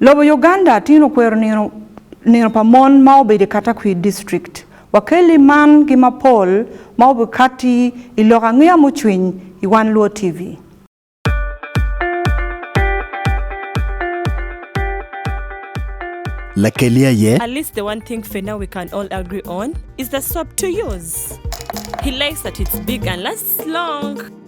Lobo Uganda atin okwero nino nino pa mon ma obedo i Katakwir District. Wakelli man ki mapol ma obikatti i lok angeya mucwiny i Wan Luo TV. Lakelli aye. At least the one thing fena we can all agree on is the soap to use. He likes that it's big and lasts long.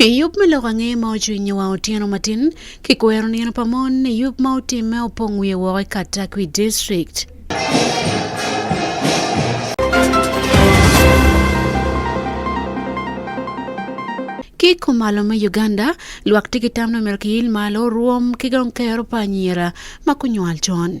I yub me lok ange ma ocwinyo wang otyeno matin, kikwero nino pa mon i yub ma otimme opong wiye woko i Katakwi District. Ki i kumalo me Uganda, lwak tye ki tam ni omyero kiyil malo rwom ki dong kero pa anyira ma gunywal con.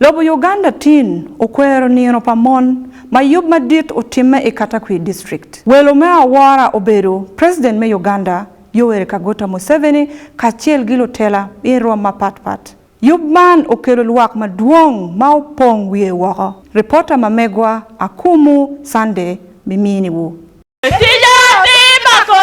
Lobo Uganda tin okwero nino pa mon ma yub madit otimme i Katakwi District. Welo me awora obedo President me Uganda Yoweri Kaguta Museveni kacel gi lutela i rwom mapat pat. Yub man okelo lwak madwong ma opong wiye woko. Reporter ma megwa Akumu Sunday bimini wu. Tica ki mako.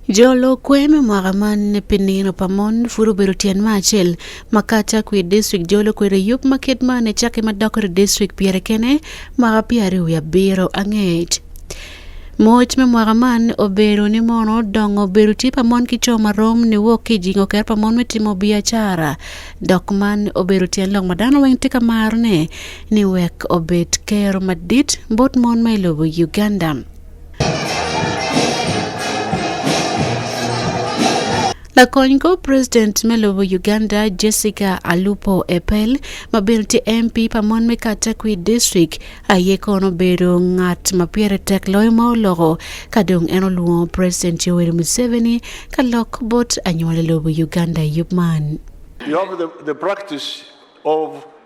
Jolo kwer me mwaka man pi nino pa mon pud obedo tyen ma acel ma ka ca kwir district jolo kwer i yub ma kit man ecaki ma dok ri district pire kene mwaka pyararyo wiye abiro anget. Moc me mwaka man obedo ni mono dongo bedo tye pa mon ki co ma rom ni wok ki jingo ker pa mon me timo biacara dok man obedo tyen lok ma dano weng tye ka maro ne ni wek obed Ker madit bot mon ma i lobo Uganda. Lakony kor president me lobo Uganda Jessica Alupo Epel ma bene tye MP pa mon me Katakwi District aye kono bedo ngat ma pire tek loyo ma oloko ka dong en olwongo President Yoweri Museveni ka lok bot anywali lobo Uganda i yub man. You have the, the practice of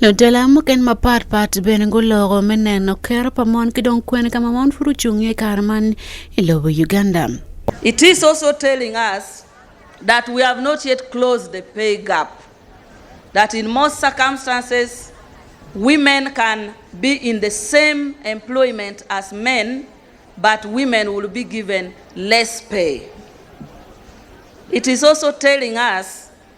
Lutela mukene mapat pat bene guloko me neno kero pa mon ki dong kwene ka ma mon pud ocung iye i kare man i lobo Uganda. It is also telling us that we have not yet closed the pay gap, that in most circumstances women can be in the same employment as men but women will be given less pay. It is also telling us.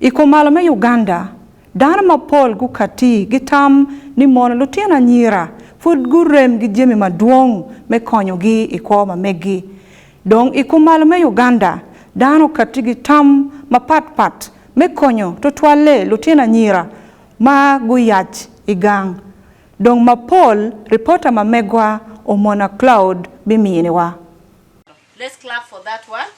I kumalo me Uganda, dano mapol gukati gitam ni mono lutino anyira pud gurem gi jami madwong me konyogi i kwo ma meggi. Dong i kumalo me Uganda, dano okati gi tam mapat pat me konyo tutwalle lutino anyira ma guyac i gang dong mapol ripota ma megwa Omona Cloud biminiwa. Let's clap for that one.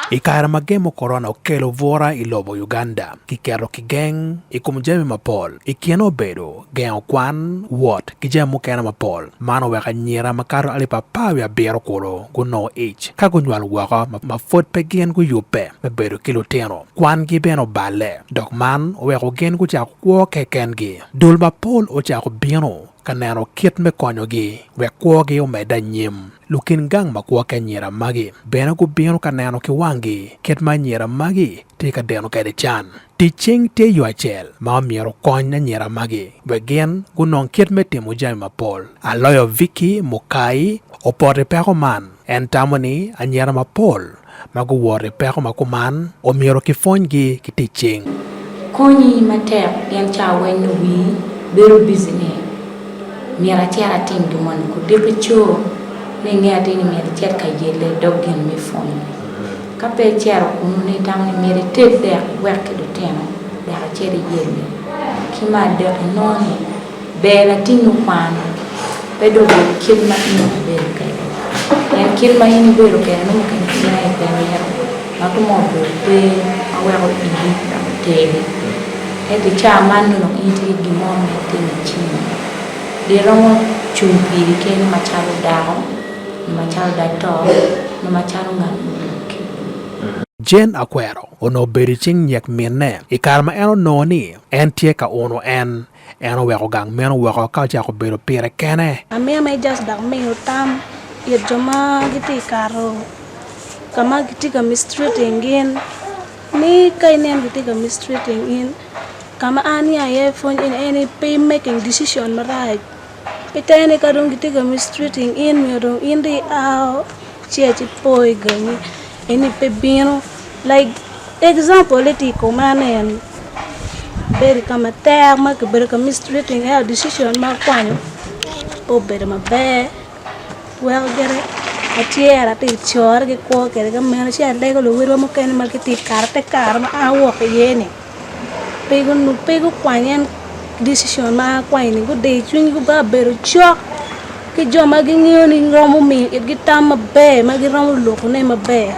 I kare ma gemo korona okelo bwura i lobo Uganda, kiketo kigeng i kom jami mapol. I kine obedo gengo kwan, wot, ki jami mukene mapol. Man oweko anyira makato alip apar wiye abiro kulu gunongo ic ka gunywalo woko ma pud pe gin guyubbe me bedo ki lutino. Kwangi bene oballe, dok man oweko gin gucako kwo kekengi. Dul mapol ocako bino ka neno kit me konyogi wek kwogi omedde anyim. Lukin gang ma gwokke anyira magi bene gubino ka neno ki wanggi kit ma anyira magi tye ka deno kwede can. Tic cing tye yo acel ma omyero okony anyira magi wek gin gunong kit me timo jami mapol. Aloyo Vicky mukai opoti peko man. En tamo ni anyira mapol ma guworo i peko ma kuman omyero kipwonygi ki tic cing. Konyi matek pien cawa weng nyo wii bedo busy ni myero acit atim gin moni. Kudiki co ni inge atir ni myero icit ka yelle i dog gin me pwony. Ka pe icito kunu ni itamo ni myero ited dek iwek ki lutino dek icit iyelle. Ki me adek inongo ni. Ber atingo kwano, pe dong bedo kit ma in nongo ibedo kwede. Pien kit ma in ibedo kwede nongo mukene pe iye pe mito, ma kong obedo kwer ma weko igi dok otergi. Ento i caa man nongo dong in itye ki gin mo ma itimo i cingi. Gin romo cung piri kene macalo dako, nyo macalo dog to, nyo macalo ngat mudwoki. Jane Akwero onongo obedo i cing nyek minne i kare ma en onongo ni en tye ka uno en. En oweko gang meno woko ka ocako bedo pire kene. Amiya ma Ejaz dok miyo tam it jo ma gitye ka kato ka ma kitye ka mistreating in, ni ka ineno kitye ka mistreating in, ka ma an aya iye pwony eni en ni pe i making decision marac. I tenge-ni ka dong gitye ka mistreating in nyo dong in dong ia ci aye ipo i gangi eni pe bino like example ni tye i komane eni ibedo i ka matek ma kibedo ka mistreating ento decision ma akwanyo pe obedo maber weko gire atyero atye ka core ki kwo kwede ki amego ci alego luwotwa mukene ma gitye ka kato te kare ma an awoko iyeni. pe gukwany en decision ma an akwanyi ni gudiyo cwinygi ba bedo cok ki jo ma gingeyo ni romo miyo itgi tam maber ma giromo lukone maber.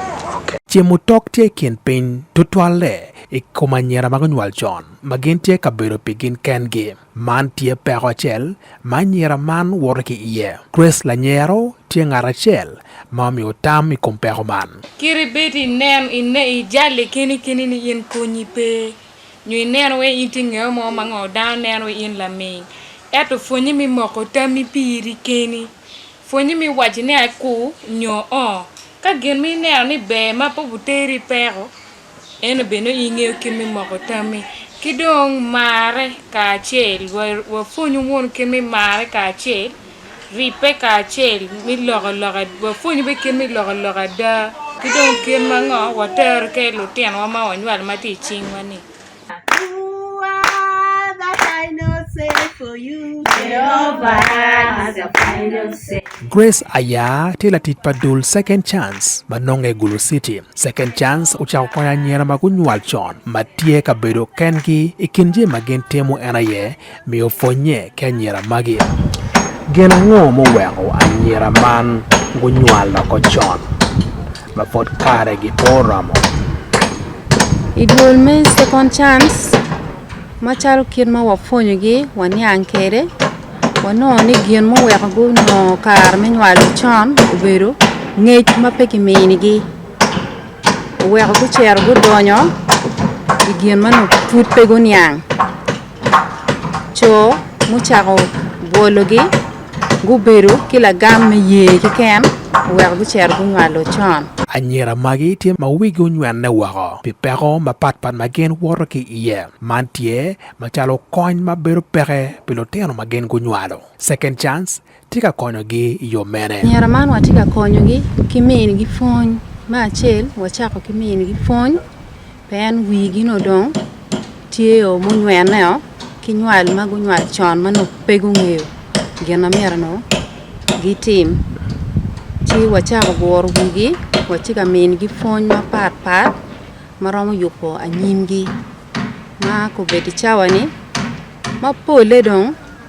Ce mutok tye i kin piny, tutwalle i kom anyira ma gunywal con ma gin tye ka bedo pi gin kengi. Man tye peko acel ma anyira man woto ki iye. Grace lanyero tye ngat acel ma omiyo tam i kom peko man. Kit ibed inen i jalli keni keni ni in konyi pe, nyo ineno wai in tye ngeo mo ma ngo dano neno wai in laming, eto pwonye mi moko tammi piri keni. Pwonye mi waci ni aku nyo oo. Ka gin ma ineno ni ber ma pe obuteri i peko, En obino i nge kit me moko tammi ki dong marre kacel wa pwonyu mono kit me marre kacel ribbe kacel me loko loka wa pwonyu bene kit me loko loka ada ki dong kit ma ngo wa tero ki lutino wa ma wa nywalo ma tye i cing wa ni Grace Aya tye latic pa dul Second Chance ma nonge i Gulu City. Second Chance ocako konyo anyira ma gunywal con ma tye ka bedo kengi. I kin jami ma gin timo en aye miyo pwonnye ki anyira magi. Gin ango muweko anyira man gunywal woko con ma pud karegi pe oromo? I dul me Second Chance, macalo kit ma wapwonyogi waniang kwede, wanongo ni gin muweko gunongo kare me nywalo con obedo ngec ma pe kiminigi. Oweko gucito gudonyo i gin ma pud pe guniang. co mucako bwologi gubedo ki lagam me ye kiken oweko gucito gunywalo con. Anyira magi tye ma wigi onywene woko pi peko mapat pat ma gin woto ki iye. Man tye macalo kony ma bedo peke pi lutino ma gin gunywalo. Second Chance, tye ka konyogi i yo mene? Anyira man watye ka konyogi ki minigi pwony. Me acel, wacako ki minigi pwony pien wigi nongo dong tyeo munywenneo ki nywal ma gunywal con ma nongo pe gungeyo gin ma myero nongo gitim. Ci wacako guro wigi, watye ka minigi pwony mapatpat ma romo yubo anyimgi ma kobeddi cawani ma polle dong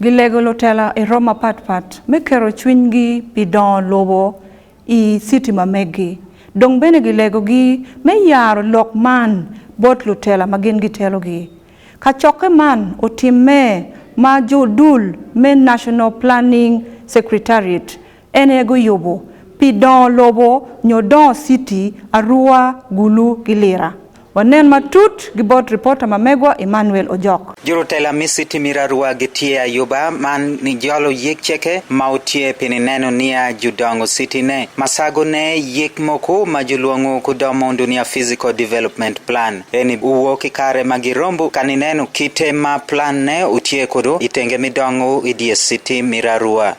Gilego lutela i romo mapatpat me keto cwinygi pi dongo lobo i citi ma meggi. Dong bene gilegogi me yaro lok man bot lutela ma gin gitelogi. Kacokke man otimme ma jodul me National Planning Secretariat En aye guyubo pi dongo lobo nyo dongo citi, Arua, Gulu ki Lira. Wanen matut gi bot ripota ma Megwa Emmanuel Ojok. Jurutela me citi me Arua gitye ayuba man nijolo yik ceke ma otye pi nineno niya judongo citi ne masago ne yik moku ma julwongo ku dong mundu niya Physical Development Plan. Eni uwo ki kare ma girombu ka nineno kite ma plan ne otye kudu itenge me dongo idye citi me Arua.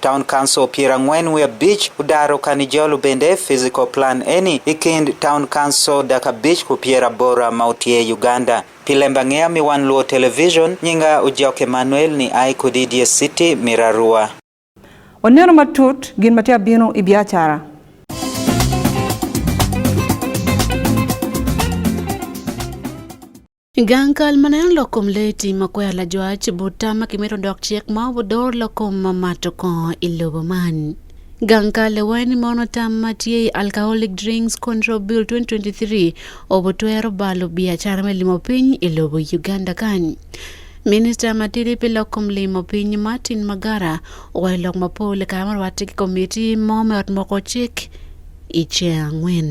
Town Council pyer angwen wiye abic odaro kani jolo bene physical plan eni i kind Town Council dek abic ku pyer abora ma otyer Uganda. Pi lembangeya mi wan luo television, nyinga Ojok Emmanuel ni ai kodi idyer city mi Rarua. Waneno matut gin ma tye ka bino i biacara. Gang kal ma neno lok kom lee tim ma kwero lajwac bot tam ma kimito dok cik ma obudor lok kom ma mato kongo i lobo man. Gang kal lewanyo ni mono tam ma tye i Alcoholic Drinks Control Bill 2023 obutwero balo biacara me limo piny i lobo Uganda kany. Minista matidi pi lok kom limo piny Martin Magara owaco lok mapol i kare ma orwatte ki komitti mo me ot moko cik i ceng angwen.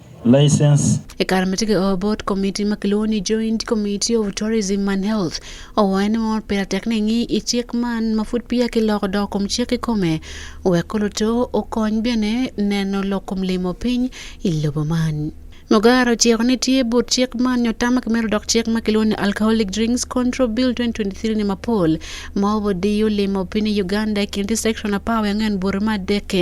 license. I kare ma tye ka o bot komiti ma kilwongo ni Joint Committee of Tourism and Health, owayo ni mono pire tek ni engi i cik man ma pud peya kiloko dok kom cik kikome wek ko luto okony bene neno lok kom limo piny i lobo man. Mugara ociko ni tye but cik man nyo tam ma kimedo dok cik ma kilwongo ni Alcoholic Drinks Control Bill 2023 ni mapol ma obodiyo limo piny i Uganda i kin distrikson apar wiye angwen bute ma adekke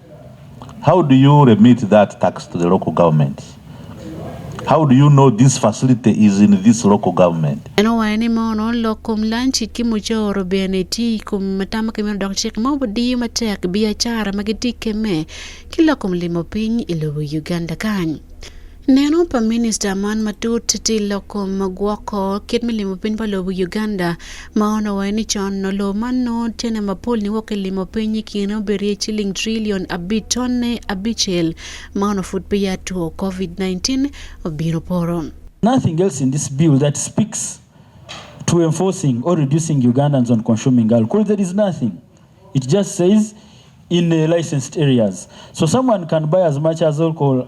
How do you remit that tax to the local government? How do you know this facility is in this local government? En owaco ni mono lok kom lanci ki mucoro bene tye i kom atama ki meno dok cik mo budi diyo matek biacara ma gitye keme ki lok kom limo piny i lobo Uganda kany. Neno pa minista man matut tye lok kom ma gwoko kit me limo piny pa lobo i Uganda ma onongo waye ni con nongo lobo man nongo cene mapol niwok ki limo piny i kine obedo iye ciling trillion abic tonne abicel ma onongo pud peya two Covid-19 obino poto. Nothing else in this bill that speaks to enforcing or reducing Ugandans on consuming alcohol there is nothing it just says in licensed areas so someone can buy as much as alcohol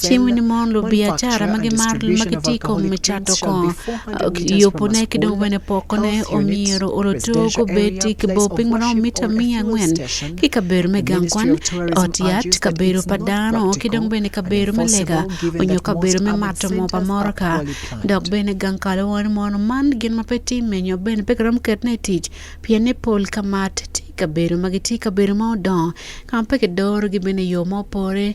Cing winy mon lubiacara ma gimaro ma gitye kong me cato kong yubone ki dong wene pokone omyero oloto gubed ki bor piny maromo mita miya angwen ki kabedo me gang kwan, ot yat, kabedo pa dano ki dong bene kabedo me lega onyo kabedo me mato moo pa motoka. Dok bene gang kalawani mono man gin ma pe timme nyo bene pe giromo keto ne i tic pienne pol ka mat tye kabedo ma gitye kabedo ma odongo ka ma pe kidoro gi bene i yo ma opore.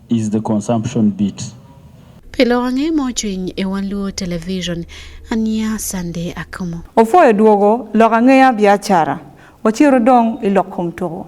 is the consumption bit. Pi lok ange ma ocwiny i One Luo Television, aniya Sunday Akumu. Opwoyo dwogo lok angeya biacara, ocito dong i lok kom tuko.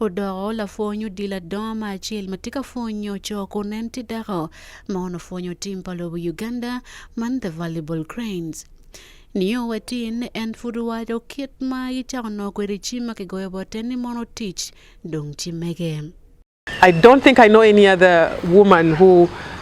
Odoko lapwony odilo adongo ma acel ma tye ka pwonyo co kun en tye dako ma onongo pwonyo tim pa lobo Uganda man The Valuable Cranes. Nio wa tin, en pud owaco kit ma gicako nongo kwede ci ma kigoyo bote ni mono tic dong ci mege. I don't think I know any other woman who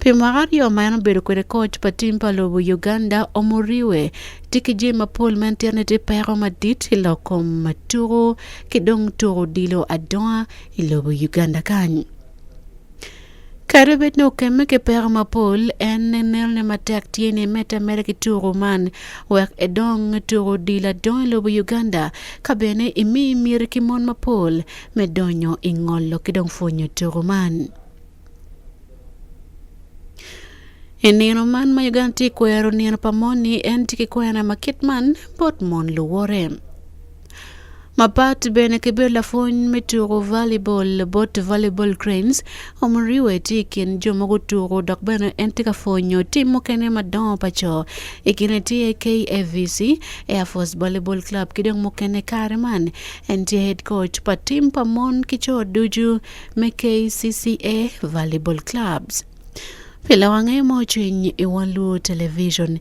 Pi mwaka aryo ma en obedo kwede koc pa tim pa lobo Uganda, Omuriwe tye ki jami mapol ma en tito ni tye peko madit i lok kom tuko ki dong tuko odilo adonga i lobo Uganda kany. Kadi bed ni okemme ki peko mapol, en nenone matek tye ni emedde ameda ki tuko man wek edong tuko odilo adonga i lobo Uganda ka bene emi miti ki mon mapol me donyo i ngolo ki dong pwonyo tuko man. I nino man ma Uganda tye kwero nino pa moni en tye ki kwena ma kit man bot mon luwote. Mapat bene ki bedo lapwony me tuko volleyball bot volleyball cranes omuriwe tye i kin jo ma gutuko dok bene en tye ka pwonyo tim mukene madongo pa co i kine tye KAVC Air Force Volleyball Club ki dong mukene kare man en tye head coach pa tim pa mon ki co ducu me KCCA Volleyball Clubs. Pi lawange ma ocwiny i wang luwo television,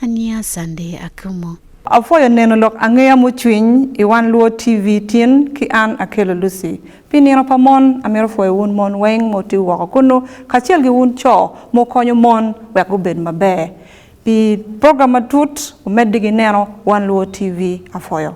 aniya Sunday Akumu. Apwoyo neno lok angeya mucwiny i wang luwo TV tin ki an Akello Lucy. Pi nino pa mon, amito pwoyo wun mon weng ma wutiyo woko kunnu kacel ki wun co ma wukonyo mon wek gubed maber. Pi program matut, wumedde gi neno wang luwo TV. Apwoyo.